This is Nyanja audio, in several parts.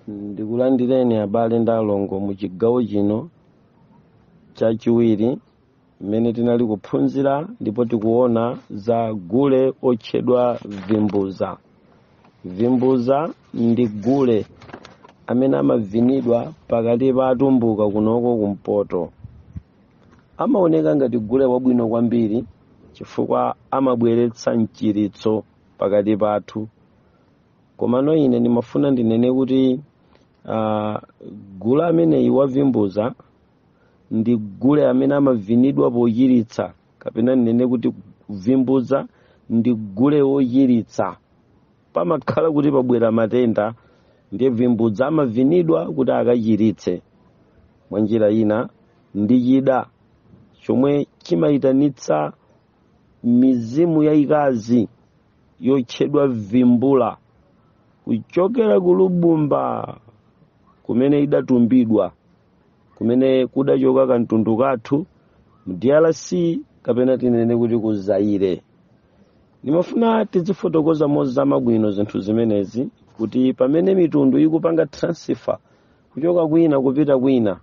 ndikulandireni abale ndi alongo mu chigawo chino chachiwiri mmene tinali kuphunzira ndipo tikuona za gule otchedwa vimbuza vimbuza ndi gule amene amavinidwa pakati pa atumbuka kunoko kumpoto amaoneka ngati gule wabwino kwambiri chifukwa amabweretsa mchiritso pakati pathu komano ine ndimafuna ndinene kuti uh, gule ameneyi wavimbuza ndi gule amene amavinidwa pochiritsa kapena ndinene kuti vimbuza ndi gule wochiritsa pamakhala kuti pabwera matenda ndiye vimbuza amavinidwa kuti akachiritse mwa njira ina ndi chida chomwe chimayitanitsa mizimu yayikazi yotchedwa vimbula kuchokera kulubumba kumene idatumbidwa kumene kudachoka kamtundu kathu mu drc kapena tinene kuti ku zaire ndimafuna tizifotokoza mozama bwino zinthu zimenezi kuti pamene mitundu ikupanga transfer kuchoka kwina kupita kwina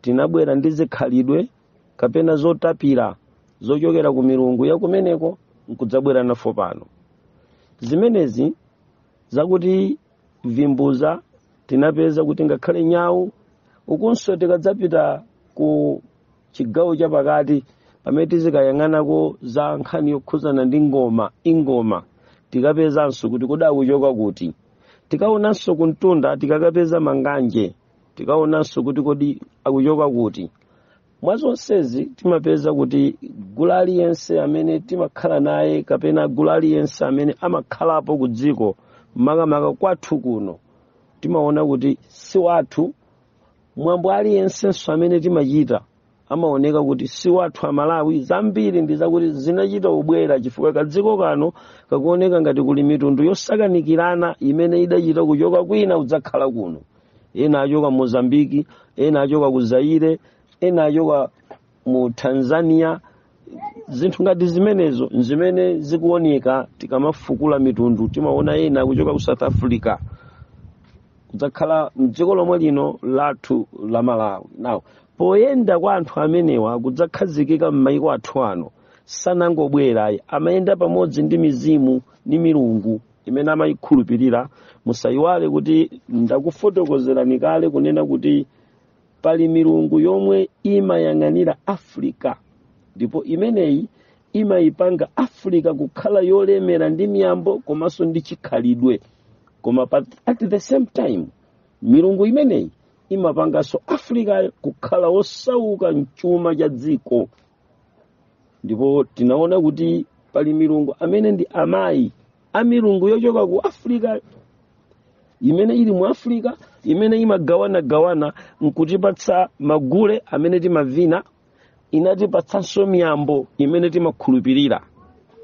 tinabwera ndi zikhalidwe kapena zotapira zochokera ku milungu ya kumeneko nkudzabwera nazo pano zimenezi zakuti vimbuza tinapeza kuti ngakhale nyawu ikunso tikadzapita ku chigawo chapakati pamene tizikayang'anako za nkhani yokhuzana ndi ngoma ingoma tikapezanso kuti kodi akuchoka kuti tikaonanso kumtunda tikakapeza manganje tikaonanso kuti kodi akuchoka kuti mwa zonsezi timapeza kuti gule aliyense amene timakhala naye kapena gule aliyense amene amakhalapo ku dziko makamaka kwathu kuno timaona kuti si wathu mwambo aliyensenso amene timachita amaoneka kuti si wathu amalawi zambiri ndi zakuti zinachita kubwera chifukwa kadziko kano kakuoneka ngati kuli mitundu yosakanikirana imene idachita kuchoka kwina kudzakhala kuno ena achoka mozambiki ena achoka ku zaire ena achoka mu tanzania zinthu ngati zimenezo nzimene zikuoneka tikamafukula mitundu timaona ena kuchoka ku south africa kudzakhala mdziko lomwe lino lathu la malawi now poyenda kwa anthu amenewa kudzakhazikika m'maiko athu ano sanangobwera ayi amayenda pamodzi ndi mizimu ndi milungu imene amayikhulupirira musayiwale kuti ndakufotokozerani kale kunena kuti pali milungu yomwe imayang'anira africa ndipo imeneyi imayipanga africa kukhala yolemera ndi miyambo komanso ndi chikhalidwe koma pa, at the same time milungu imeneyi imapanganso africa kukhala wosauka mchuma cha dziko ndipo tinaona kuti pali milungu amene ndi amayi a milungu yochoka ku africa imene ili mu africa imene imagawanagawana nkutipatsa magule amene timavina inatipatsanso miyambo imene timakhulupirira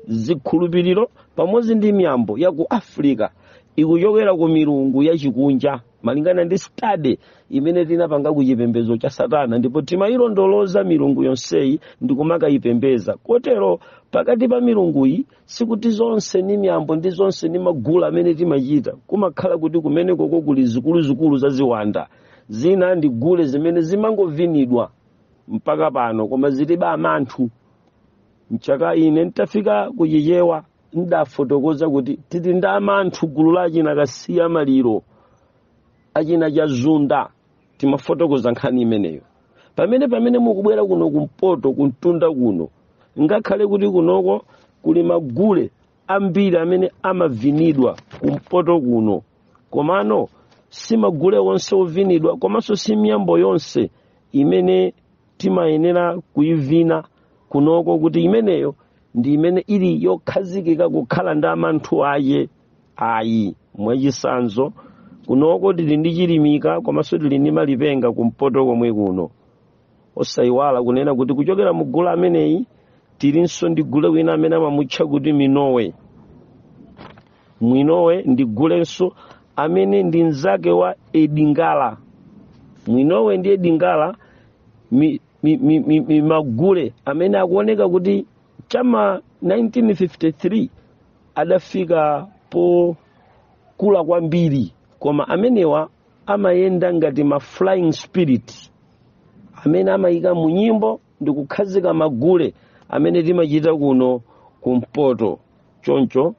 zikhulupiriro pamodzi ndi miyambo ya ku africa ikuchokera ku milungu yachikunja malingana ndi study imene tinapanga ku chipembedzo cha satana ndipo timayilondoloza milungu yonseyi ndi kumakayipembeza kotero pakati pa milunguyi sikuti zonse ni miyambo ndi zonse ni magule amene timachita kumakhala kuti kumenekoko kuli zikuluzikulu za ziwanda zina ndi gule zimene zimangovinidwa mpaka pano koma zilibe amanthu mchaka ine ntafika ku chichewa ndafotokoza kuti tili ndi amanthu gulu la achina kasiya maliro achina chazunda timafotokoza nkhani imeneyo pamene pamene mukubwera kuno kumpoto kumtunda kuno ngakhale kuti kunoko kuli magule ambiri amene amavinidwa kumpoto kuno komano si magule onse ovinidwa komanso si miyambo yonse imene timayenera kuivina kunoko kuti imeneyo ndi imene ili yokhazikika kukhala ndi amanthu ake ayi mwachisanzo kunoko tili ndi chilimika komanso tili ndi malipenga kumpoto komwe kuno osayiwala kunena kuti kuchokera mu gule ameneyi tilinso ndi gule wina amene amamutcha kuti mwinowe mwinowe ndi gulenso amene ndi mnzake wa edingala mwinowe ndi edingala mi, mi, mi, mi, mi magule amene akuoneka kuti chama 1953 adafika pokula kwambiri koma amenewa amayenda ngati ma flying spirit amene amayika mu nyimbo ndi kukhazika magule amene timachita kuno kumpoto choncho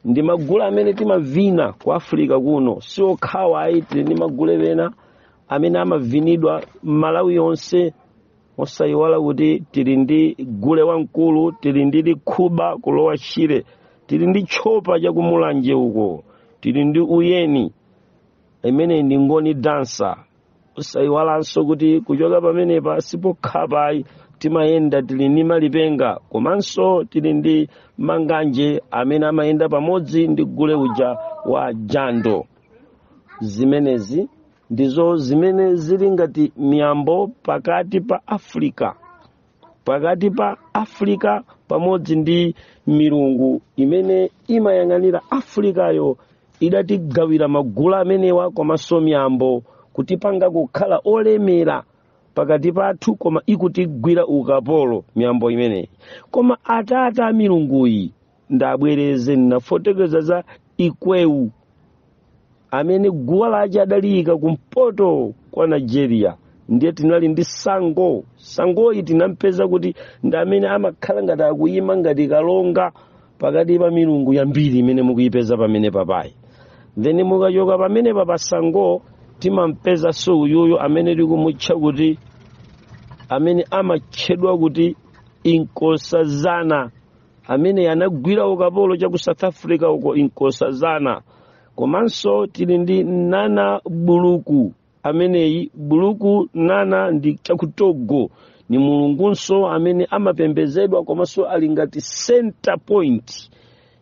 ndi magule amene timavina ku africa kuno si okhawa ayi tili ndi magule ena amene amavinidwa m'malawi yonse osayiwala kuti tili ndi gule wamkulu tili ndi likhuba ku lower shire tili ndi tchopa chakumulanje uko tili ndi uyeni imene ndi ngoni dance osayiwalanso kuti kuchoka pamenepa sipokhapa ayi timayenda tili ndi malipenga komanso tili ndi manganje amene amayenda pamodzi ndi gule uja wa jando zimenezi ndizo zimene zili ngati miyambo pakati pa africa pakati pa afrika pamodzi ndi milungu imene imayang'anira afrikayo idatigawira magulu amenewa komanso miyambo kutipanga kukhala olemera pakati pathu koma ikutigwira ukapolo miyambo imeneyi koma atata a milunguyi ndabwereze ndinafotokoza za ikwewu amene guwa lache adaliyika kumpoto kwa nigeria ndiye tinali ndi sango sangoyi tinampeza kuti ndi amene amakhala ngati akuyima ngati kalonga pakati pa milungu yambiri imene mukuyipeza pamenepapayi then mukachoka pamenepa pa sango timampeza so uyuyu amene tikumutcha kuti amene amatchedwa kuti inkosazana amene anagwira ukapolo cha ku south africa uko inkosazana komanso tili ndi nana buluku ameneyi buluku nana ndi cha ku togo ni mulungunso amene amapembezedwa komanso ali ngati center point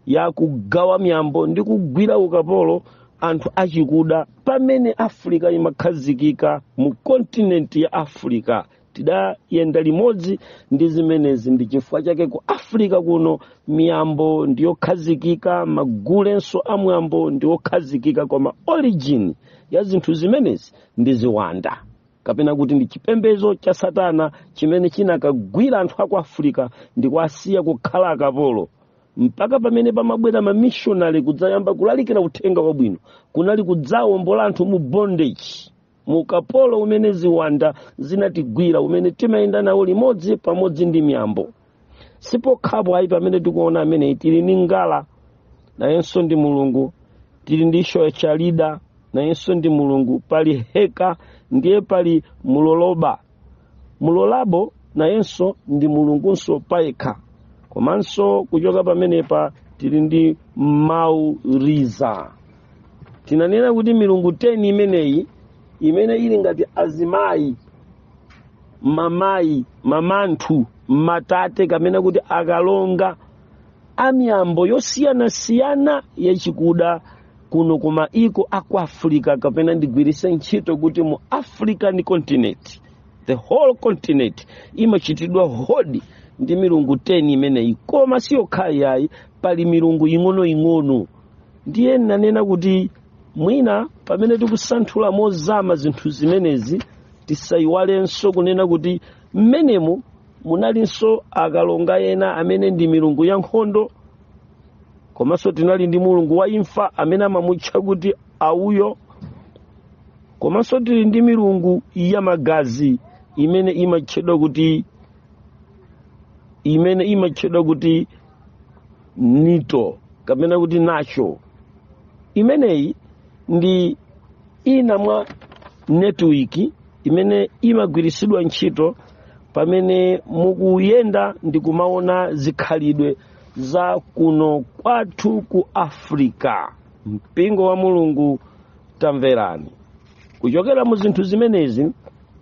ya kugawa miyambo ndi kugwira ukapolo anthu achikuda pamene africa imakhazikika mu kontinenti ya africa tidayenda limodzi ndi zimenezi ndi chifukwa chake ku africa kuno miyambo ndi yokhazikika magulenso a mwambo ndi okhazikika koma origin ya zinthu zimenezi ndi ziwanda kapena kuti ndi chipembedzo cha satana chimene chinakagwira anthu aku africa ndi kuwasiya kukhala akapolo mpaka pamene pamabwera mamishonari kudzayamba kulalikira uthenga wabwino kunali kudzawombola anthu mu bondage mu ukapolo umene ziwanda zinatigwira umene timayenda nawo limodzi pamodzi ndi miyambo sipokhapo ayi pamene tikuona ameneyi tili ndi ngala nayenso ndi mulungu tili ndi shoyachalida nayenso ndi mulungu pali heka ndiye pali muloloba mulolabo nayenso ndi mulungunso payekha komanso kuchoka pamenepa tili ndi mawu liza tinanena kuti milungu 10 imeneyi imene ili ngati azimayi mamayi mamanthu matate kamena kuti akalonga amiyambo yosiyanasiyana yachikuda kuno ku maiko a ku africa kapena ndigwiritse ntchito kuti mu african continent the whole continent imachitidwa hodi ndi milungu 10 imeneyi koma si yokhayi yayi pali milungu ing'onoing'ono ndiye nanena kuti mwina pamene tikusanthula mozama zinthu zimenezi tisayiwalenso kunena kuti mmenemo munalinso akalonga ena amene ndi milungu ya nkhondo komanso tinali ndi mulungu wa imfa amene amamutcha kuti auyo komanso tili ndi milungu ya magazi imene imatchedwa kuti imene imatchedwa kuti nito kapena kuti natcho imeneyi ndi ina mwa netiwiki imene imagwiritsidwa ntchito pamene mukuyenda ndi kumaona zikhalidwe za kuno kwathu ku afrika mpingo wa mulungu tamverani kuchokera mu zinthu zimenezi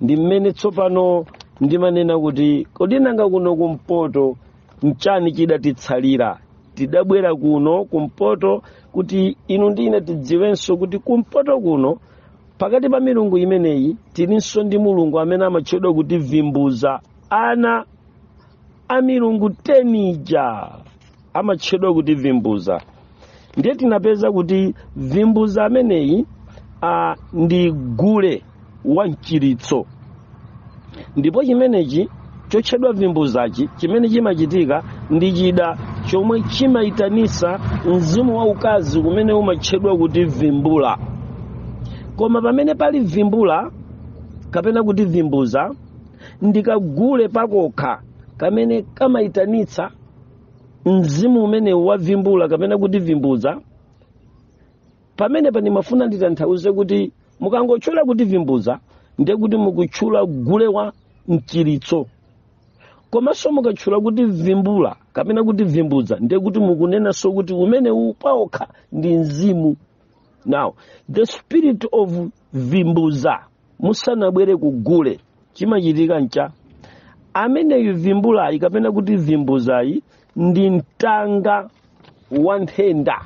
ndi mmene tsopano ndimanena kuti kodi nanga kuno kumpoto nchani chidatitsalira tidabwera kuno kumpoto kuti inu ndi ine tidziwenso kuti kumpoto kuno pakati pa milungu imeneyi tilinso ndi mulungu amene amatchedwa kuti vimbuza ana a milungu 10 ija amatchedwa kuti vimbuza ndiye tinapeza kuti vimbuza ameneyi a, ndi gule wa mchiritso ndipo chimenechi chotchedwa vimbuzachi chimene chimachitika ndi chida chomwe chimayitanisa mzimu wa ukazi umene umatchedwa kuti vimbula koma pamene pali vimbula kapena kuti vimbuza ndi kagule pakokha kamene kamayitanitsa mzimu umenewu wa vimbula kapena kuti vimbuza pamenepa ndimafuna nditanthauze kuti mukangotchula kuti vimbuza ndiye kuti mukutchula gule wa mchiritso komanso mukatchula kuti vimbula kapena kuti vimbuza ndiye kuti mukunenanso kuti umenewu pawokha ndi mzimu now the spirit of vimbuza musanabwere ku gule chimachitika ncha ameneyu vimbulayi kapena kuti vimbuzayi ndi mtanga wa nthenda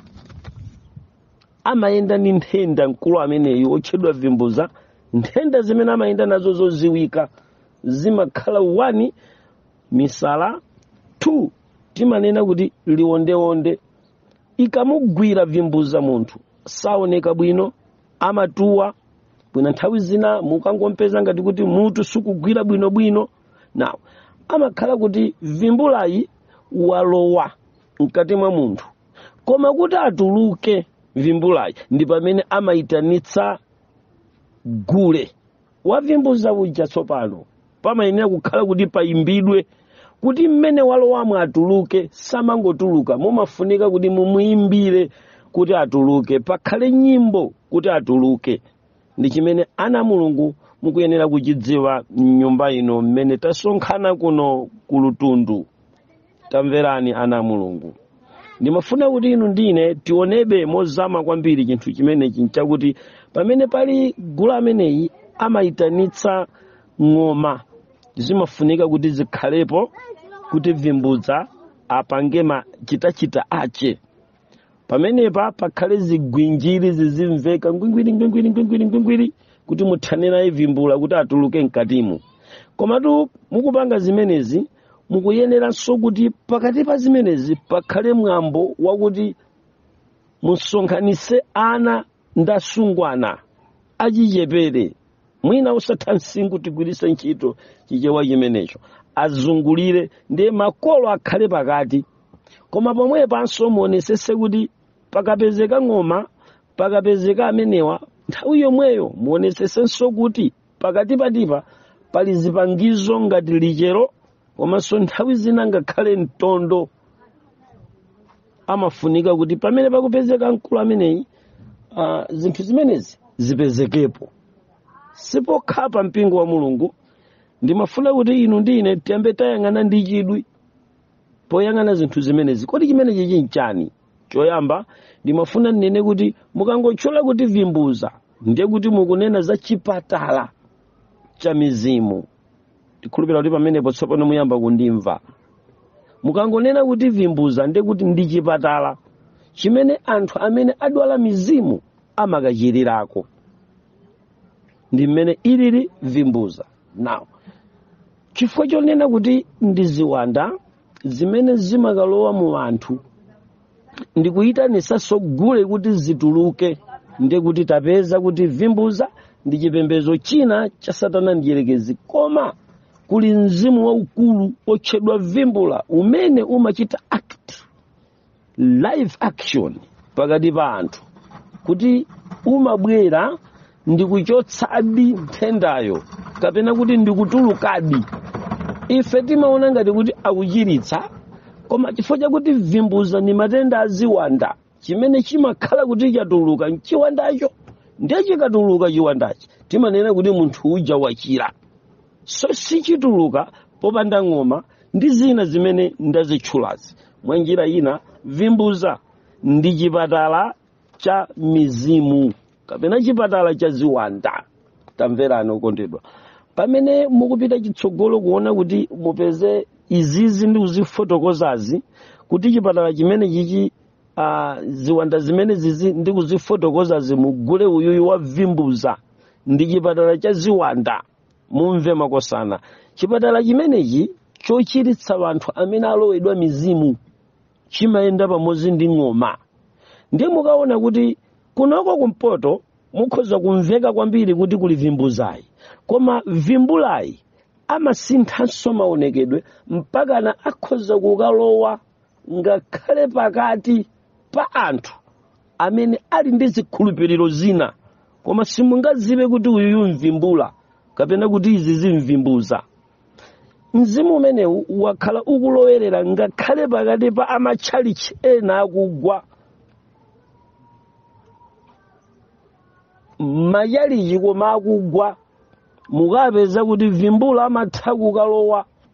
amayenda ndi nthenda mkulu ameneyu otchedwa vimbuza nthenda zimene amayenda nazo zodziwika zimakhala 1 misala 2 timanena kuti liwondewonde ikamugwira vimbuza munthu saoneka bwino amatuwa bwino nthawi zina mukangompeza ngati kuti mutu sukugwira bwinobwino nawo amakhala kuti vimbulayi walowa mkati mwa munthu koma kuti atuluke vimbulayi ndi pamene amayitanitsa gule wavimbuza uja tsopano pamayenera kukhala kuti payimbidwe kuti mmene walowamo atuluke samangotuluka mumafunika kuti mumuyimbire kuti atuluke pakhale nyimbo kuti atuluke ndi chimene ana a mulungu mukuyenera kuchidziwa mnyumba ino mmene tasonkhana kuno ku lutundu tamverani ana a mulungu ndimafuna kuti inu ndi ine tionebe mozama kwambiri chinthu chimenechi nchakuti pamene pali gule ameneyi amayitanitsa ng'oma zimafunika kuti zikhalepo kuti vimbuza apange machitachita ache pamenepa pakhale zigwinjiri zizimveka ngwingwiri ngwingwiri ngwingwiri ngwingwiri kuti muthane naye vimbula kuti atuluke mkatimu komatu mukupanga zimenezi mukuyeneranso kuti pakati pa zimenezi pakhale mwambo wakuti musonkhanise ana ndi asungwana achichepere mwina osatha msinkhu tigwirise ntchito chichewa chimenecho azungulire ndiye makolo akhale pakati koma pomwe panso muonesese kuti pakapezeka ng'oma pakapezeka amenewa nthawi yomweyo muonesesenso kuti pakatikatipa pali zipangizo ngati lichero komanso nthawi zina ngakhale mtondo amafunika kuti pamene pakupezeka mkulu ameneyi uh, zinthu zimenezi zipezekepo sipokhapa mpingo wa mulungu ndimafuna kuti inu ndi ine tiyambe tayang'ana ndi chidwi poyang'ana zinthu zimenezi kodi chimenechi chinchani choyamba ndimafuna ndinene kuti mukangotchula kuti vimbuza ndiye kuti mukunena za chipatala cha mizimu ndikhulupira kuti pamenepo tsopano muyamba kundimva mukangonena kuti vimbuza ndiye kuti ndi chipatala chimene anthu amene adwala mizimu amakachirirako ndi mmene ilili vimbuza now chifukwa chonena kuti ndi ziwanda zimene zimakalowa mu anthu ndikuyitanisanso gule kuti zituluke ndiye kuti tapeza kuti vimbuza ndi chipembedzo china cha satana mdyerekezi koma kuli mzimu waukulu otchedwa vimbula umene umachita act live action pakati pa anthu kuti umabwera ndikuchotsadi nthendayo kapena kuti ndikutulukadi ife timaona ngati kuti akuchiritsa koma chifukwa chakuti vimbuza ndi matenda aziwanda chimene chimakhala kuti chatuluka mchiwandacho ndiye chikatuluka chiwandachi timanena kuti munthu uja wachira so sichituluka popanda ng'oma ndi zina zimene ndazitchulazi mwa njira ina vimbuza ndi chipatala cha mizimu kapena chipatala cha ziwanda tamverani okondedwa pamene mukupita chitsogolo kuona kuti mupeze izizi ndi kuzifotokozazi kuti chipatala chimene chichi uh, ziwanda zimene zizi ndi kuzifotokozazi mugule uyuyu wa vimbuza ndi chipatala cha ziwanda mumve makosana chipatala chimenechi chochiritsa anthu amene alowedwa mizimu chimayenda pamodzi ndi ng'oma ndiye mukaona kuti kunoko kumpoto mukhoza kumveka kwambiri kuti kuli vimbuzayi koma vimbulayi amasinthanso maonekedwe mpakana akhoza kukalowa ngakhale pakati pa anthu amene ali ndi zikhulupiriro zina koma simungaziwe kuti uyuyu mvimbula kapena kuti izi zimvimbuza mzimu umenewu wakhala ukulowerera ngakhale pakati pa amatchalichi ena akugwa m'machalichi koma akugwa mukapeza kuti vimbula amatha kukalowa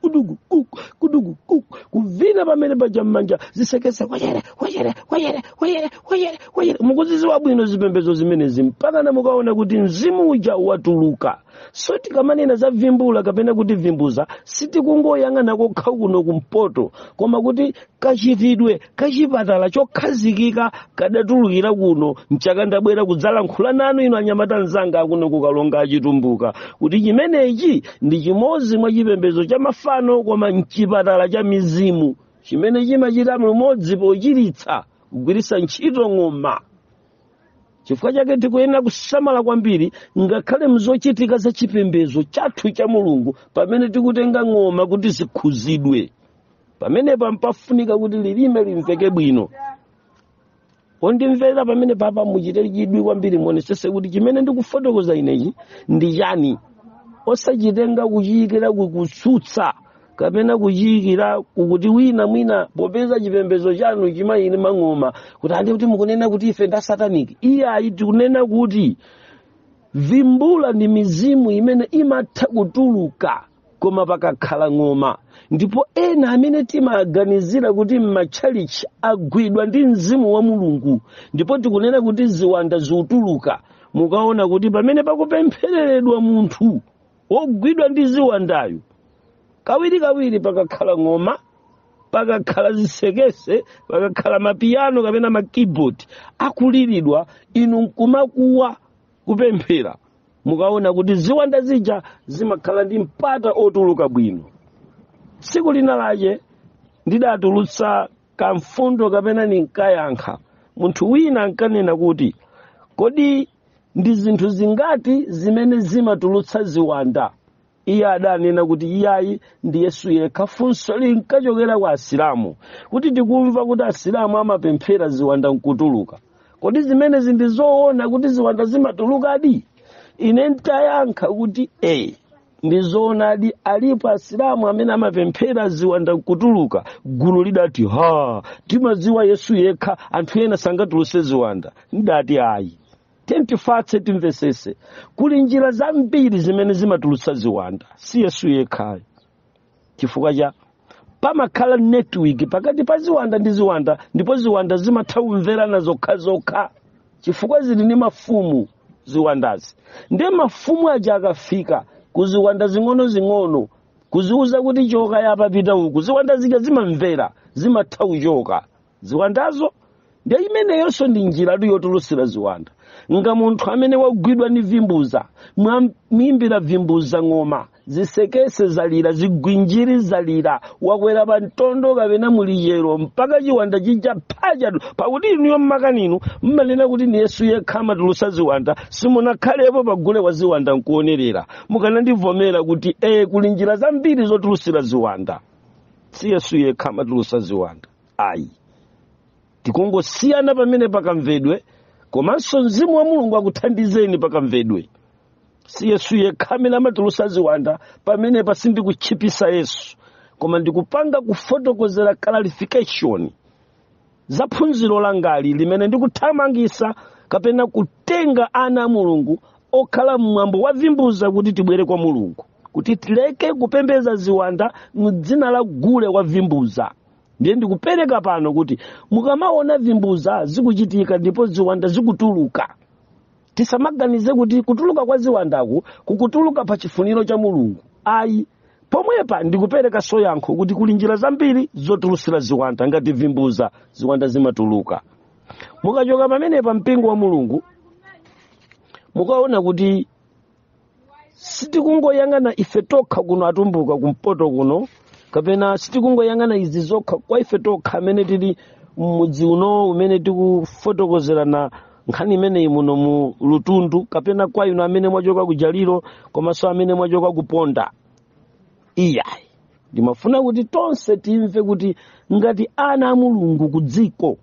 kudugu kuku kudugu kuku kuvina pamene paja mmanja zisekese kwachere kwachere kwachere kwachere kwachere kwachere mukuziziwa bwino zipembedzo zimenezi mpakana mukaona kuti mzimu uja watuluka so tikamanena za vimbula kapena kuti vimbuza sitikungoyang'ana kokha kuno kumpoto koma kuti kachitidwe kachipatala chokhazikika kadatulukira kuno nchake ndabwera kudzalankhula nanu inu anyamata anzanga akuno kukaronga achitumbuka kuti chimenechi ndi chimodzi mwa chipembedzo cha mafano koma mchipatala cha mizimu chimene chimachita limodzi pochiritsa kugwiritsa ntchito ng'oma chifukwa chake tikuyenera kusamala kwambiri ngakhale mzochitika za chipembedzo chathu cha mulungu pamene tikutenga ng'oma kuti zikhudzidwe pamenepa mpafunika kuti lilime limveke bwino ondimvera pamene papa muchite chidwi kwambiri muonesese kuti chimene ndikufotokoza inechi ndi chani osachitenga kuchiyikira kukutsutsa kapena kuchiyikira kukuti wina mwina popeza chipembedzo chanu chimayimba ng'oma kuti andi kuti mukunena kuti ife nda sataniki iyayi tikunena kuti vimbula ndi mizimu imene imatha kutuluka koma pakakhala ng'oma ndipo ena amene timaganizira kuti m'matchalichi agwidwa ndi mzimu wa mulungu ndipo tikunena kuti ziwanda zikutuluka mukaona kuti pamene pakupemphereredwa munthu wogwidwa ndi ziwandayu kawirikawiri pakakhala ng'oma pakakhala zisekese pakakhala mapiyano kapena ma keyboard akuliridwa inu nkumakuwa kupemphera mukaona kuti ziwanda zija zimakhala ndi mpata otuluka bwino tsiku lina lache ndidatulutsa kamfundo kapena ndinkayankha munthu wina ankanena kuti kodi ndi zinthu zingati zimene zimatulutsa ziwanda iye adanena kuti iyayi ndi yesu yekha funso linkachokera kwa asilamu kuti tikumva kuti asilamu amapemphera ziwanda nkutuluka kodi zimenezi ndi zoona kuti ziwanda zimatulukadi ine ntayankha kuti e ndi zoonadi alipo asilamu amene amapemphera ziwanda nkutuluka gulu lidati ha timadziwa yesu yekha anthu ena sangatuluse ziwanda ndati ayi tiye tifatse timvesese kuli njira zambiri zimene zimatulutsa ziwanda si yesu yekhayo chifukwa cha pamakhala network pakati pa ziwanda ndi ziwanda ndipo ziwanda zimatha kumverana zokhazokha chifukwa zili ndi mafumu ziwandazi ndiye mafumu aja akafika ku ziwanda zing'onozing'ono kuziwuza kuti choka apa pita uku ziwanda zija zimamvera zimatha kuchoka ziwandazo nde imeneyonso ndi njiratu yotulutsira ziwanda nga munthu amene wagwidwa ndi vimbuza mwamwimbira vimbuza ng'oma zisekese zalira zigwinjiri zalira wakwera pa mtondo kapena mulichero mpaka chiwanda chija pa ujatu pakuti inuyo mmakaninu mmanena kuti ni yesu yekha amatulusa ziwanda simunakhalepo pagule wa ziwanda nkuonerera mukanandivomera kuti ee kuli njira zambiri zotulusira ziwanda si yesu yekha amatulusa ziwanda ayi tikungosiyana pamenepa kamvedwe komanso mzimu wa mulungu akuthandizeni pakamvedwe si yesu yekha amene amatulusa ziwanda pamenepa sindikutchipisa yesu koma ndikupanga kufotokozera clarification za phunziro langali limene ndikuthamangisa kapena kutenga ana a mulungu okhala mmwambo wa vimbuza kuti tibwere kwa mulungu kuti tileke kupembeza ziwanda mdzina la gule wa vimbuza ndiye ndikupereka pano kuti mukamaona vimbuza zikuchitika ndipo ziwanda zikutuluka tisamaganize kuti kutuluka kwa ziwandaku kukutuluka pa chifuniro cha mulungu ayi pomwepa ndikuperekaso yankho kuti kuli njira zambiri zotulusira ziwanda ngati vimbuza ziwanda zimatuluka mukachoka pamenepa mpingo wa mulungu mukaona kuti sitikungoyang'ana ife tokha kuno atumbuka kumpoto kuno kapena sitikungoyang'ana izi zokha kwa ife tokha amene tili mmudzi uno umene tikufotokozerana nkhani imeneyi muno mu lutundu kapena kwa inu amene mwachoka ku jaliro komanso amene mwachoka ku ponda iyayi ndimafuna kuti tonse timve kuti ngati ana a mulungu ku dziko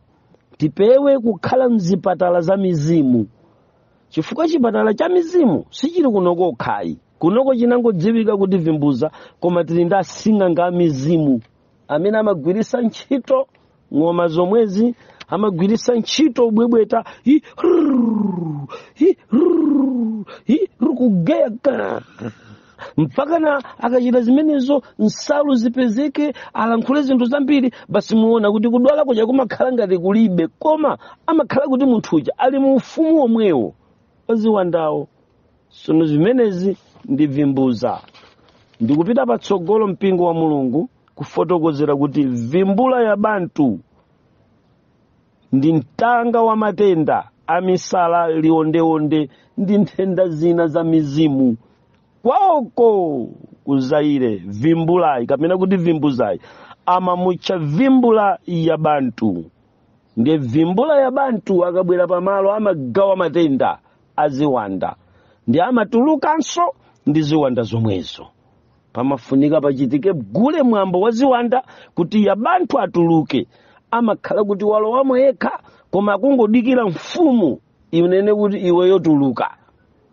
tipewe kukhala mzipatala za mizimu chifukwa chipatala cha mizimu sichili kunoko kokhayi kunoko chinangodziwika kuti vimbuza koma tili ndi asing'anga a mizimu amene amagwirisa ntchito ng'oma zomwezi amagwirisa ntchito ubwebweta hi rrrr, hi rrrr, hi rrrr, kugeya ka mpakana akachita zimenezo nsalu zipezeke alankhule zinthu zambiri basi muona kuti kudwala kuja kumakhala ngati kulibe koma amakhala kuti munthu uja ali mu ufumu womwewo waziwandawo sono zimenezi ndi vimbuza ndikupita patsogolo mpingo wa mulungu kufotokozera kuti vimbula ya bantu ndi mtanga wa matenda a misala liondeonde ndi nthenda zina za mizimu kwaoko ku zaire vimbulayi kapena kuti vimbuzayi amamutcha vimbula ya bantu ndiye vimbula ya bantu akabwera pamalo amagawa matenda aziwanda ndi amatulukanso ndi ziwanda zomwezo pamafunika pachitike gule mwambo wa ziwanda kuti ya bantu atuluke amakhala kuti walowamo yekha koma akungodikira mfumu inene kuti iweyo tuluka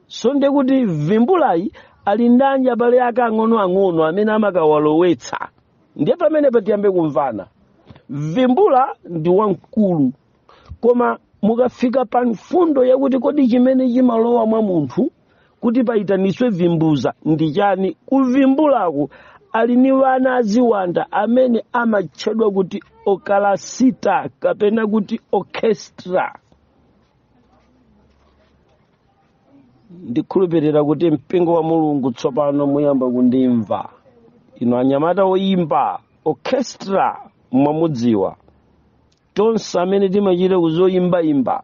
so ndiye kuti vimbulayi ali ndi abale ake ang'onoang'ono amene amakawalowetsa ndiye pamene patiyambe kumvana vimbula ndi wamkulu koma mukafika pa mfundo yakuti kodi chimene chimalowa mwa munthu kuti payitaniswe vimbuza ndi chani kuvimbulaku ali ni wana aziwanda amene amatchedwa kuti okalasita kapena kuti orchestra ndikhulupirira kuti mpingo wa mulungu tsopano muyamba kundimva inu anyamata oyimba orchestra mwamudziwa tonse amene timachita kuzoyimbayimba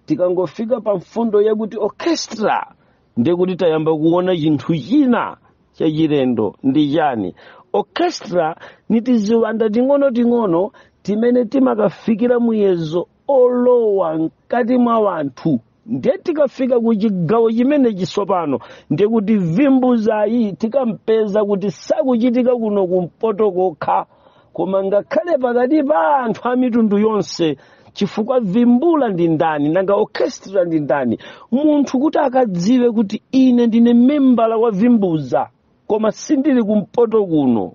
tikangofika pa mfundo yakuti orchestra ndiye kuti tayamba kuona chinthu china chachilendo ndi chani orchestra ni tiziwanda ting'onoting'ono timene timakafikira muyezo olowa mkati mwa wanthu ndiye tikafika ku chigawo chimenechi tsopano ndiye kuti vimbuzayi tikapeza kuti sakuchitika kuno kumpoto kokha koma ngakhale pakati pa anthu a mitundu yonse chifukwa vimbuza ndi ndani nanga orchestra ndi ndani munthu kuti akadziwe kuti ine ndine membala wa vimbuza koma sindili kumpoto kuno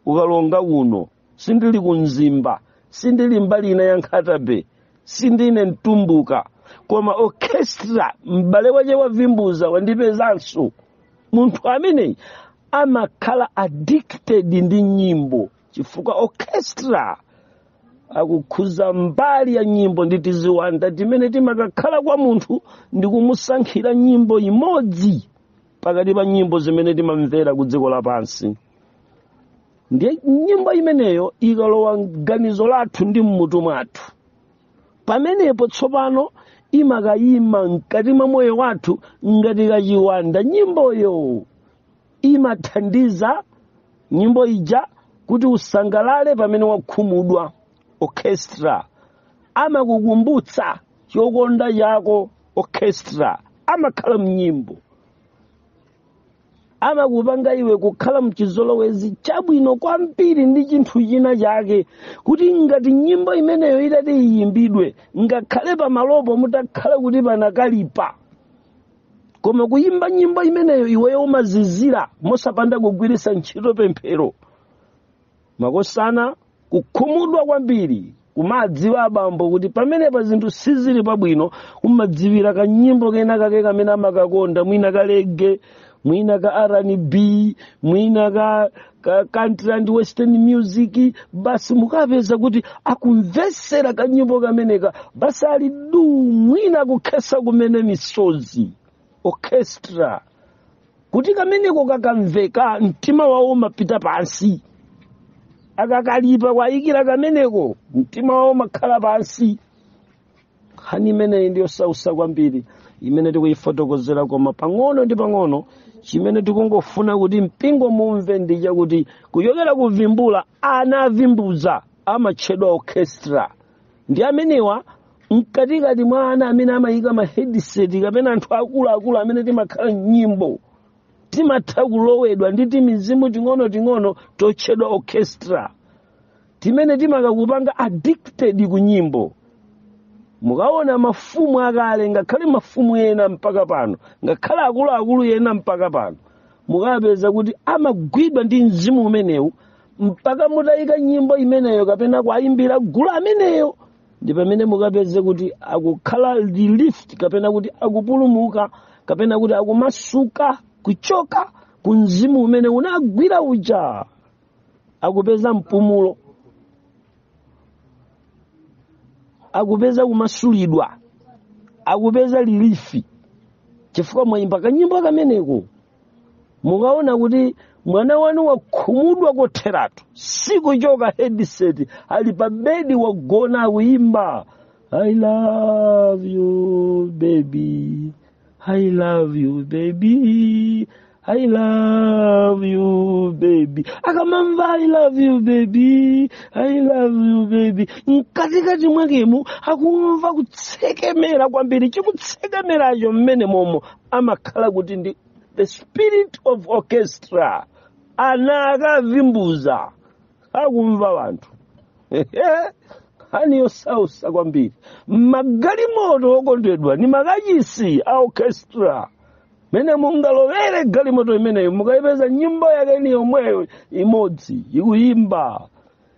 ukalonga kuno sindili ku mzimba sindili mbali ina ya Nkhata Bay sindine mtumbuka koma orchestra m'bale wache wavimbuza wandipezanso munthu ameneyi amakhala addicted ndi nyimbo chifukwa orchestra akukhudza mbali ya nyimbo ndi tiziwanda timene timakakhala kwa munthu ndi kumusankhira nyimbo imodzi pakati pa nyimbo zimene timamvera ku dziko lapansi ndiye nyimbo imeneyo ikalowa mganizo lathu ndi mmutu mwathu pamenepo tsopano imakayima mkati mwa moyo wathu ngati kachiwanda nyimboyo imathandiza nyimbo ija kuti usangalale pamene wakhumudwa orchestra amakukumbutsa chokonda chako orchestra amakhala mnyimbo amakupanga iwe kukhala mchizolowezi chabwino kwambiri ndi chinthu china chake kuti ngati nyimbo imeneyo itati iyimbidwe ngakhale pamalopo mutakhala kuti panakalipa koma kuyimba nyimbo imeneyo iweyo umazizira mosapanda kugwiritsa ntchito pemphero makosana kukhumudwa kwambiri kumadziwa abambo kuti pamenepa zinthu sizili pabwino umadziwira kanyimbo kena kake kamene amakakonda mwina ka lege mwina ka rnb mwina ka, ka country and western music basi mukapeza kuti akumvetsera kanyimbo kameneka basi ali du mwina kukhesa kumene misozi orchestra kuti kameneko kakamveka mtima wawo umapita pansi akakalipa kuwayikira kameneko mtima wawo umakhala pansi nkhani imeneyi ndi yosautsa kwambiri imene tikuyifotokozera koma pang'ono ndi pang'ono chimene tikungofuna kuti mpingo mumve ndi chakuti kuchokera kuvimbuza ana avimbuza amatchedwa orchestra ndi amenewa mkatikati mwa ana amene amayika ma headset kapena anthu akuluakulu amene timakhala nyimbo timatha kulowedwa ndi timizimu ting'onoting'ono totchedwa orchestra timene timakakupanga addicted ku nyimbo mukaona mafumu akale ngakhale mafumu ena mpaka pano ngakhale akuluakulu ena mpaka pano mukapeza kuti amagwidwa ndi mzimu umenewu mpaka mutayika nyimbo imeneyo kapena kuwayimbira gulu ameneyo ndi pamene mukapeze kuti akukhala relieved kapena kuti akupulumuka kapena kuti akumasuka kuchoka ku mzimu umene unagwira uja akupeza mpumulo akupeza kumasulidwa akupeza relief chifukwa mwayimba kanyimbo kameneko mukaona kuti mwana wanu wakhumudwa kotheratu sikuchoka headset ali pa bedi wagona akuyimba i love you baby i love you baby i love you baby akamamva i love you baby i love you baby mkatikati mwakemo akumva kutsekemera kwambiri chikutsekemeracho mmene momo amakhala kuti ndi the spirit of orchestra ana a kavimbuza akumva wanthu nkhani yosausa kwambiri magalimoto okondedwa ni makachisi a orchestra mene mungalowere galimoto imeneyo mukayipeza nyimbo yake ni yomweyo imodzi ikuyimba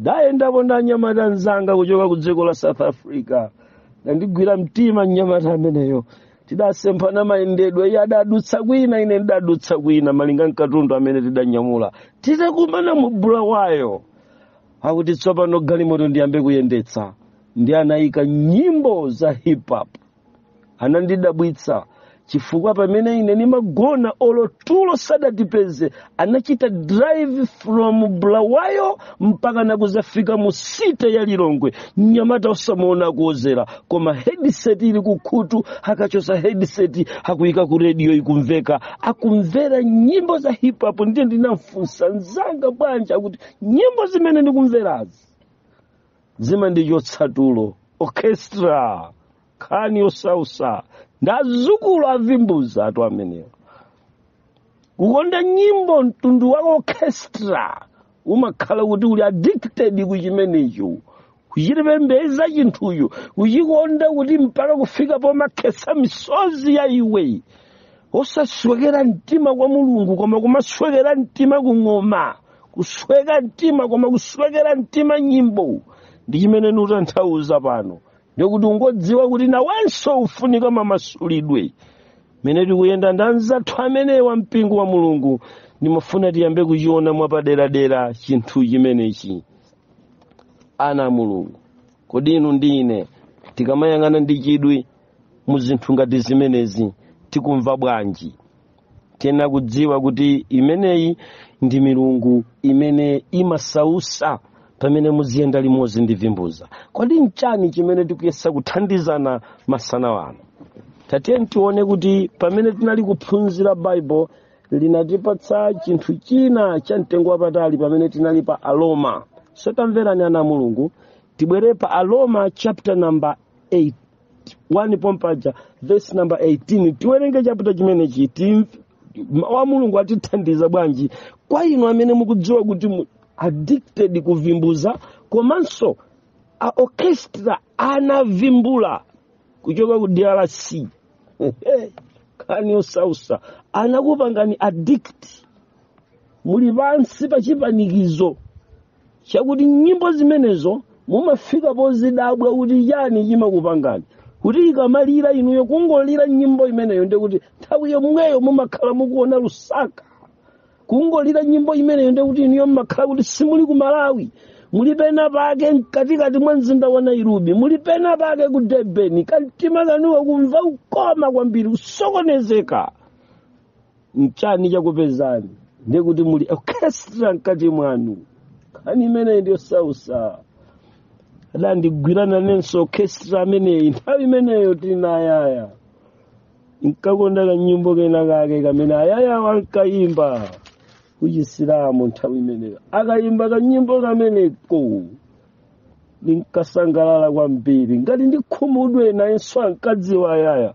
ndayendapo ndi mnyamata mnzanga kuchoka ku dziko la south africa anandigwira mtima mnyamata ameneyo tidasemphana mayendedwe iye adadutsa kwina ine ndidadutsa kwina malinga mkatundu amene tidanyamula titakumana mu bulawayo akuti tsopano galimoto ndiyambe kuyendetsa ndiye anayika nyimbo za hip hop anandidabwitsa chifukwa pamene ine nimagona olo tulo sadatipeze anachita drive from bulawayo mpaka nakuzafika mu city ya lilongwe mnyamata osamuona akuwodzera koma headset ili kukhutu akachosa headset akuyika ku radio ikumveka akumvera nyimbo za hip hop ndiye ndinamfunsa nzanga bwanji akuti nyimbo zimene ndikumverazi zimandichotsa tulo orchestra nkhani yosausa ndi azukulu a vimbuza tu amenewo kukonda nyimbo mtundu wa orchestra umakhala kuti uli addicted ku chimenecho kuchipembedza chinthucho kuchikonda kuti mpaka kufika pomakhetsa misozi ya iwe osaswekera mtima kwa mulungu koma kumaswekera mtima ku ng'oma kusweka mtima koma kuswekera mtima nyimbo ndi chimene nutanthauza pano ndikuti ungodziwa kuti nawenso ufunika mamasulidwe mene tikuyenda ndi anzathu amene wa mpingo wa mulungu ndimafuna tiyambe kuchiona mwapaderadera chinthu chimenechi ana a mulungu kodi inu ndi ine tikamayang'ana ndi chidwi mu zinthu ngati zimenezi tikumva bwanji tiyenera kudziwa kuti imeneyi ndi milungu imene imasausa pamene muziyenda limodzi ndi vimbuza kodi nchani chimene tikuyesa kuthandizana masana ano tatiyeni tione kuti pamene tinali kuphunzira baibulo linatipatsa chinthu china cha mtengo wapatali pamene tinali pa aloma so tamverani ana a mulungu tibwere pa aloma chapter number 8 1 pompaja vesi namba 18 tiwerenge chapita chimenechi timve mawu a mulungu atithandiza bwanji kwa inu amene mukudziwa kuti muli addicted ku vimbuza komanso a orchestra anavimbula kuchoka ku drc nkhani yosausa anakupangani addict muli pansi pa chipanikizo chakuti nyimbo zimenezo mumafika pozidabwa kuti nchiyani chimakupangani kuti ikamalira inuyo kungolira nyimbo imeneyo ndiye kuti nthawi yomweyo mumakhala mukuona lusaka kungolira nyimbo imeneyo ndiye kuti inuyo mumakhala kuti simuli ku malawi muli pena pake mkatikati mwa mzinda wa nairobi muli pena pake ku durban kamtima kanu kumva ukoma kwambiri kusokonezeka mchani chakupezani ndiye kuti muli orchestra mkati mwanu nkhani imeneyi ndi yosausa adandigwirana nanenso orchestra ameneyi nthawi imeneyo tili na ayaya nkakonda kanyimbo kena kake kamene ayaya ankayimba kuchisilamu nthawi imeneyo akayimba kanyimbo kameneko ndinkasangalala kwambiri ngati ndikhumudwe nayenso ankadziwa ayaya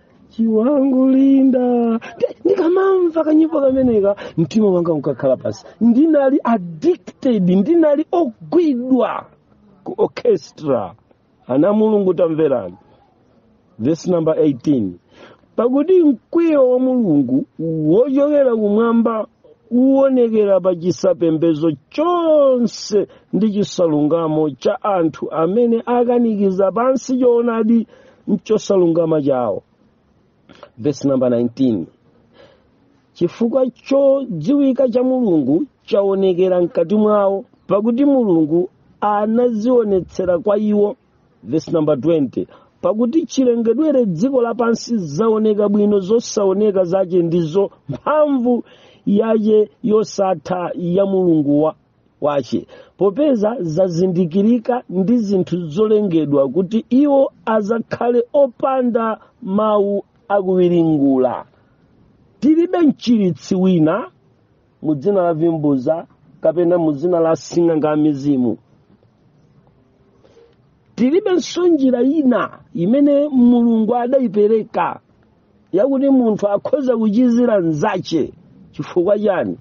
chiwangu linda ndikamamva kanyimbo kameneko mtima wanga unkakhala pansi ndinali addicted ndinali ogwidwa ku orchestra ana a mulungu tamverani vesi namba 18 pakuti mkwiyo wa mulungu wochokera kumwamba uwonekera pa chisapembedzo chonse ndi chosalungama cha anthu amene akanikiza pansi choonadi mchosalungama chawo verse number 19 chifukwa chodziwika cha mulungu chaonekera mkati mwawo pakuti mulungu anazionetsera kwa iwo verse number 20 pakuti chilengedwere dziko lapansi zaoneka bwino zosaoneka zace ndizo mphamvu yace yosatha ya umulungu wa wace popeza zazindikirika ndi zinthu zolengedwa kuti iwo azakhale opanda mawu akuwiringula tilibe mchiritsi wina mu dzina la vimbuza kapena mu dzina la sing'anga wa mizimu tilibenso njira ina imene mulungu adayipereka yakuti munthu akhoza kuchizira nzache chifukwa chani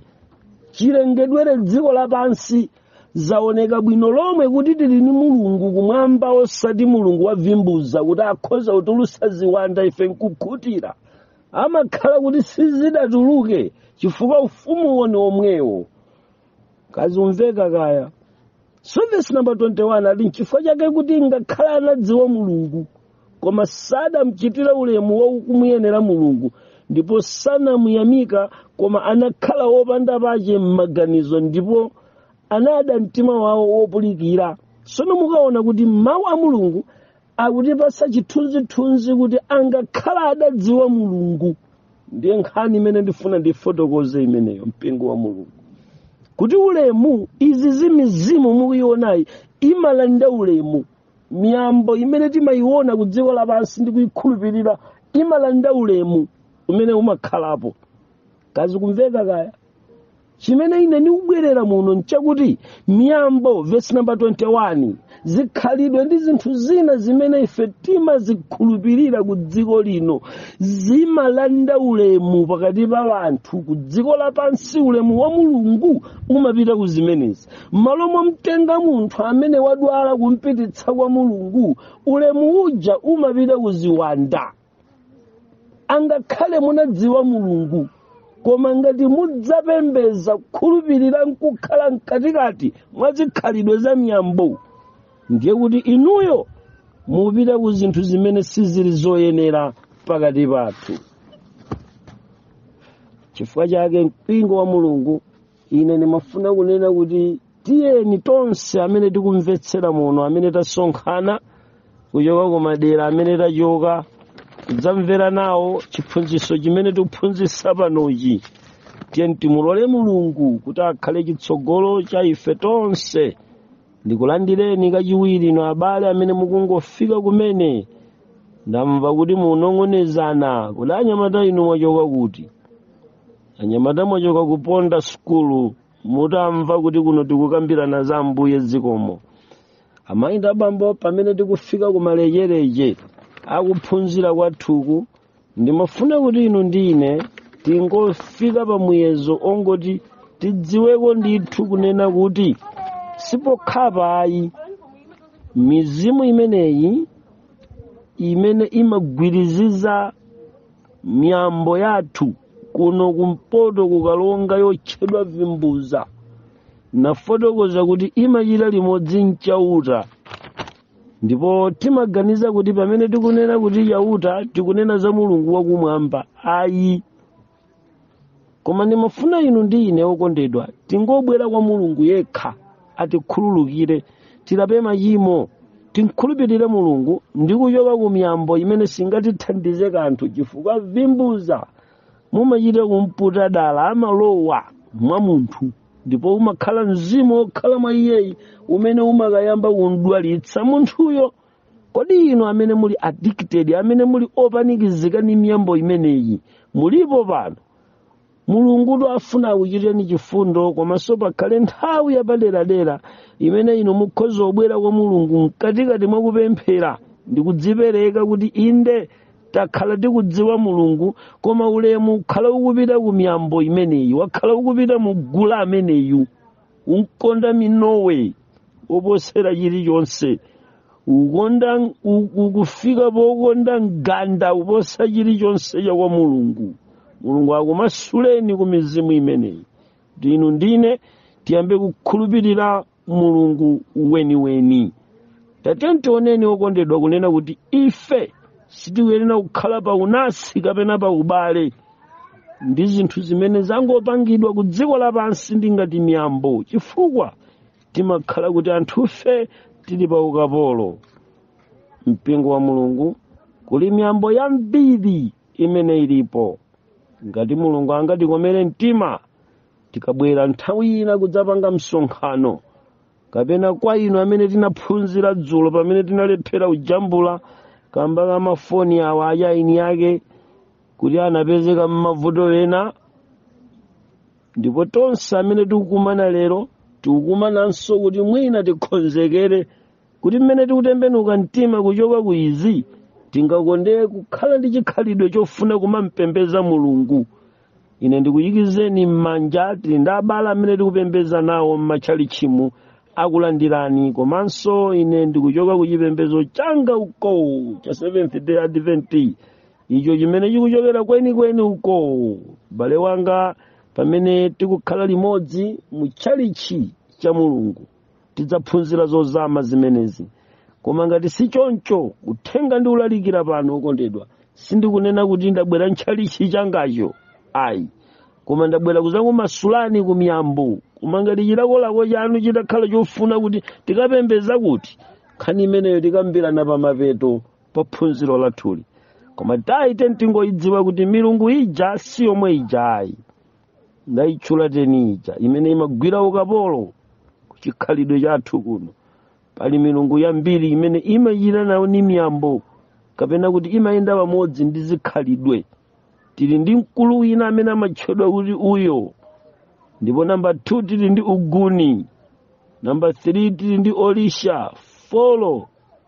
chilengedwere dziko lapansi zaoneka bwino lomwe kuti tili ni mulungu kumwamba osati mulungu wavimbuza kuti akhoza kutulutsa ziwanda ife nkukhutira amakhala kuti sizidatuluke chifukwa ufumuwo ni omwewo kazikumveka kaya so vesi namba 21 ati nchifukwa chake kuti ngakhale anadziwa mulungu koma sadamchitira ulemu wakumuyenera mulungu ndipo sanamuyamika koma anakhala wopanda pache m'maganizo ndipo anada mtima wawo wopulikira sono mukaona kuti mawu a mulungu akutipasa chithunzithunzi kuti angakhala adadziwa mulungu ndiye nkhani imene ndifuna ndifotokoze imeneyo mpingo wa mulungu kuti ulemu izi zimizimu mukuionayi imalanda ulemu miyambo imene timayiona ku dziko lapansi ndi kuyikhulupirira imalanda ulemu umene umakhalapo kazikumveka kaya chimene ine ndikubwerera muno nchakuti miyambo vesi namba 21 zikhalidwe ndi zinthu zina zimene ife timazikhulupirira ku dziko lino zimalanda ulemu pakati pa anthu ku dziko lapansi ulemu wa mulungu umapita ku zimenezi m'malo momtenga munthu amene wadwala kumpititsa kwa mulungu ulemu uja umapita ku ziwanda angakhale munadziwa mulungu koma ngati mudzapembeza kukhulupirira nkukhala mkatikati mwa zikhalidwe za miyambo ndiye kuti inuyo mupita ku zinthu zimene sizili zoyenera pakati pathu chifukwa chake mpingo wa mulungu ine ndimafuna kunena kuti tiyeni tonse amene tikumvetsera muno amene tasonkhana kuchoka kumadera amene tachoka kudzamvera nawo chiphunzitso chimene tikuphunzitsa panochi tiyeni timulole mulungu kuti akhale chitsogolo cha ife tonse ndikulandireni kachiwiri inu abale amene mukungofika kumene ndamva kuti munong'onezana kuti anyamata inu mwachoka kuti anyamata mwachoka kuponda sukulu mutamva kuti kuno tikukambirana za ambuye zikomo amayi ndi abambo pamene tikufika kumalecheleche akuphunzira kwathuku ndimafuna kuti inu ndi ine tingofika pa muyezo ongoti tidziweko ndithu kunena kuti sipokhapa ayi mizimu imeneyi imene imagwiriziza miyambo yathu kuno kumpoto ku karonga yotchedwa vimbuza nafotokoza kuti imachita limodzi nchauta ndipo timaganiza kuti pamene tikunena kuti chauta tikunena za mulungu wakumwamba ayi koma ndimafuna inu ndi ine okondedwa tingobwera kwa mulungu yekha atikhululukire tilape machimo timkhulupirire mulungu ndi kuchoka ku miyambo imene singatithandize kanthu chifukwa vimbuza mumachita kumputa dala amalowa mwa munthu ndipo umakhala mzimu wokhala mwa iyeyi umene umakayamba kumdwalitsa munthuyo kodi inu amene muli addicted amene muli opanikizika ndi miyambo imeneyi mulipo pano mulungu afuna akuchitireni chifundo komanso pakhale nthawi yapaderadera imene inu mukhoza kubwera kwa mulungu mkatikati mwa kupemphera ndi kudzipereka kuti inde takhala tikudziwa mulungu koma ulemu wakhala ukupita ku miyambo imeneyi wakhala ukupita mu gule ameneyu unkakonda minowe koposera chilichonse ukonda u- ukufika pokonda mganda kuposa chilichonse cha kwa mulungu mulungu akumasuleni ku mizimu imeneyi kuti inu ndine tiyambe kukhulupirira mulungu weniweni tatiyeni tioneni okondedwa kunena kuti ife sitikuyenera kukhala pa unasi kapena pa ubale ndi zinthu zimene zangopangidwa ku dziko lapansi ndi ngati miyambo chifukwa timakhala kuti anthufe tili pa ukapolo mpingo wa mulungu kuli miyambo yambiri imene ilipo ngati mulungu angatikomere mtima tikabwera nthawi ina kudzapanga msonkhano kapena kwa inu amene tinaphunzira dzulo pamene tinalephera kujambula kamba ka mafoni awa achainiyake kuti anapezeka m'mavuto ena ndipo tonse amene tikukumana lero tikukumananso kuti mwina tikonzekere kuti mmene tikutembenuka mtima kuchoka ku izi tingakondere kukhala ndi chikhalidwe chofuna kumampembeza mulungu ine ndikuyikizeni m'manja tili ndi abale amene tikupembeza nawo m'matchalichimu akulandirani komanso ine ndikuchoka ku chipembedzo changa uko cha seventh day advent icho chimene chikuchokera kwenikweni uko mbale wanga pamene tikukhala limodzi mu tchalichi cha mulungu tidzaphunzira zozama zimenezi koma ngati si choncho uthenga ndikulalikira pano okondedwa sindikunena kuti ndabwera ntchalichi changacho ayi koma ndabwera kudzakumasulani ku miyambo koma ngati chilakolako chanu chitakhala chofuna kuti tikapembeza kuti nkhani imeneyo tikambirana pa mapeto pa phunziro lathuli koma taite tingoyidziwa kuti milungu ija si yomwe ija ayi ndayitchula teni ija imene imagwira ukapolo ku chikhalidwe chathu kuno pali milungu yambiri imene imachita nawo ndi miyambo kapena kuti imayenda pamodzi ndi zikhalidwe tili ndi mkulu wina amene amatchedwa kuti uyo ndipo namba 2 tili ndi uguni namba 3 tili ndi olisha folo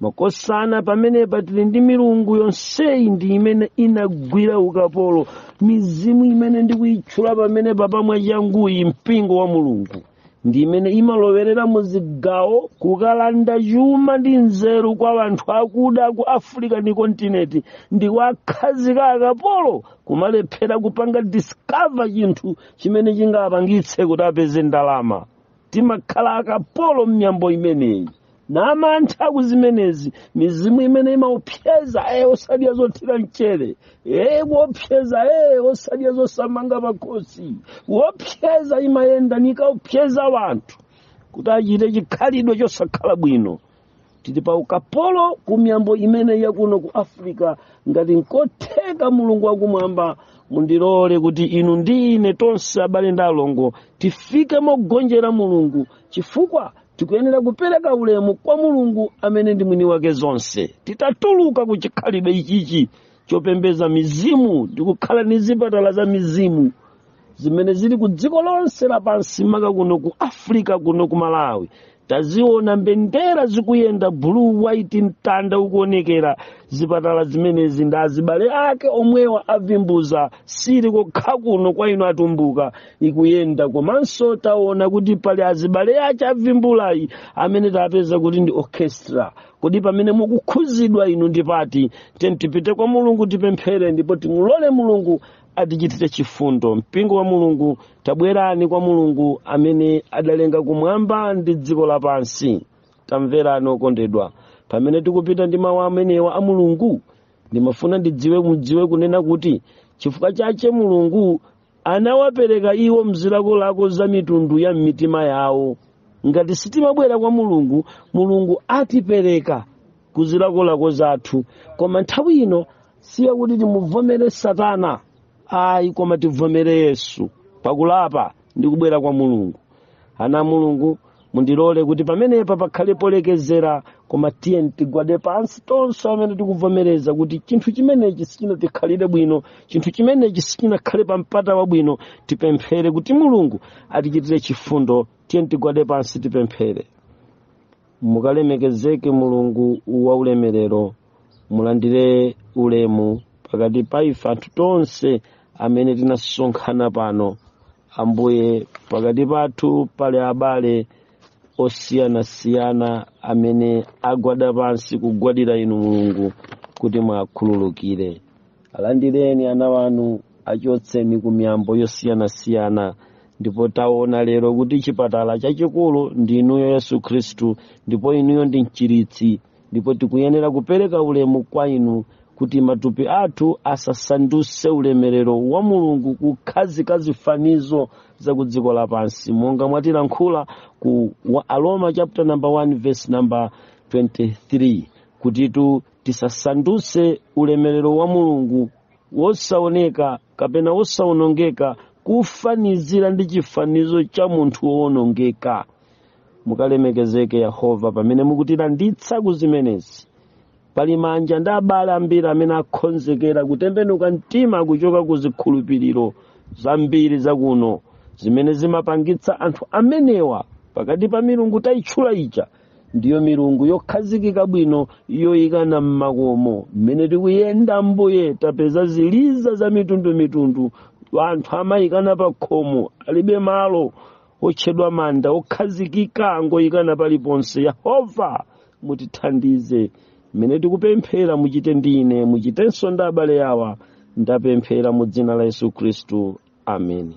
makosana pamenepa tili ndi milungu yonseyi ndi imene inagwira ukapolo mizimu imene ndikuyitchula pamenepapa mwachanguyi mpingo wa mulungu ndi imene imalowerera mu zigawo kukalanda chuma ndi nzeru kwa anthu akuda ku africa ndi kontinenti ndi kuwakhazika akapolo kumalephera kupanga discover chinthu chimene chingapangitse kuti apeze ndalama timakhala akapolo m'miyambo imeneyi namantha ku zimenezi mizimu imene imaopseza ee osadya zothira mchere ee kuopseza ee osadya zosamanga pakhosi kuopseza imayenda nkumaopseza wanthu kuti achite chikhalidwe chosakhala bwino tili pa ukapolo ku miyambo imene yakuno ku africa ngati nkotheka mulungu wakumwamba mundilole kuti inu ndi ine tonse abale ndi alongo tifike mogonjera mulungu chifukwa tikuyenera kupereka ulemu kwa mulungu amene ndi mwini wake zonse titatuluka ku chikhalidwe ichichi chopembeza mizimu ndi kukhala ndi zipatala za mizimu zimene zili ku dziko lonse lapansi maka kuno ku africa kuno ku malawi taziona mbendera zikuyenda blue white mtanda ukuonekera zipatala zimenezi ndi azibale ake omwewa avimbuza sili kokha kuno kwa inu atumbuka ikuyenda komanso taona kuti pali azibale ake avimbulayi amene tapeza kuti ndi orchestra kodi pamene mukukhuzidwa inu ndipati tiyeni tipite kwa mulungu tipemphere ndipo timulole mulungu atichitire chifundo mpingo wa mulungu tabwerani kwa mulungu amene adalenga kumwamba ndi dziko lapansi tamverani okondedwa pamene tikupita ndi mawu amenewa a mulungu ndimafuna ndidziwe mudziwe kunena kuti chifukwa chache mulungu anawapereka iwo mzilakolako za mitundu ya m'mitima yawo ngati sitimabwera kwa mulungu mulungu atipereka ku zilakolako zathu koma nthawi ino si yakuti timuvomere satana ayi koma tivomere yesu pakulapa ndi kubwera kwa mulungu ana a mulungu mundilole kuti pamenepa pakhale polekezera koma tiyeni tigwade pansi tonse amene tikuvomereza kuti chinthu chimenechi sichinatikhalire bwino chinthu chimenechi sichinakhale pa mpata wabwino tipemphere kuti mulungu atichitire chifundo tiyeni tigwade pansi tipemphere mukalemekezeke mulungu wa ulemerero mulandire ulemu pakati pa ife anthu tonse amene tinasonkhana pano ambuye pakati pathu pali abale osiyanasiyana amene agwada pansi kugwadira inu mulungu kuti muwakhululukire alandireni ana wanu achotseni ku miyambo yosiyanasiyana ndipo taona lero kuti chipatala chachikulu ndi inuyo yesu khristu ndipo inuyo ndi mchiritsi ndipo tikuyenera kupereka ulemu kwa inu kuti matupi athu asasanduse ulemerero wa mulungu kukhazika zifanizo za ku dziko lapansi monga mwatilankhula ku aroma chapter number 1 verse number 23 kutitu tisasanduse ulemerero wa mulungu wosaoneka kapena wosaonongeka kufanizira ndi chifanizo cha munthu woonongeka mukalemekezeke yehova pamene mukutilanditsa ku zimenezi pali manja ndi abale ambiri amene akhonzekera kutembenuka mtima kuchoka ku zikhulupiriro zambiri zakuno zimene zimapangitsa anthu amenewa pakati pa milungu tayitchula ija ndiyo milungu yokhazikika bwino yoyikana m'makomo mmene tikuyenda ambuye tapeza ziliza za mitundumitundu anthu amayikana pa khomo alibe malo otchedwa manda okhazikika ngoyikana paliponse yehova mutithandize mmene tikupemphera muchite ndine muchitenso ndi abale awa ndapemphera mu dzina la yesu khristu ameni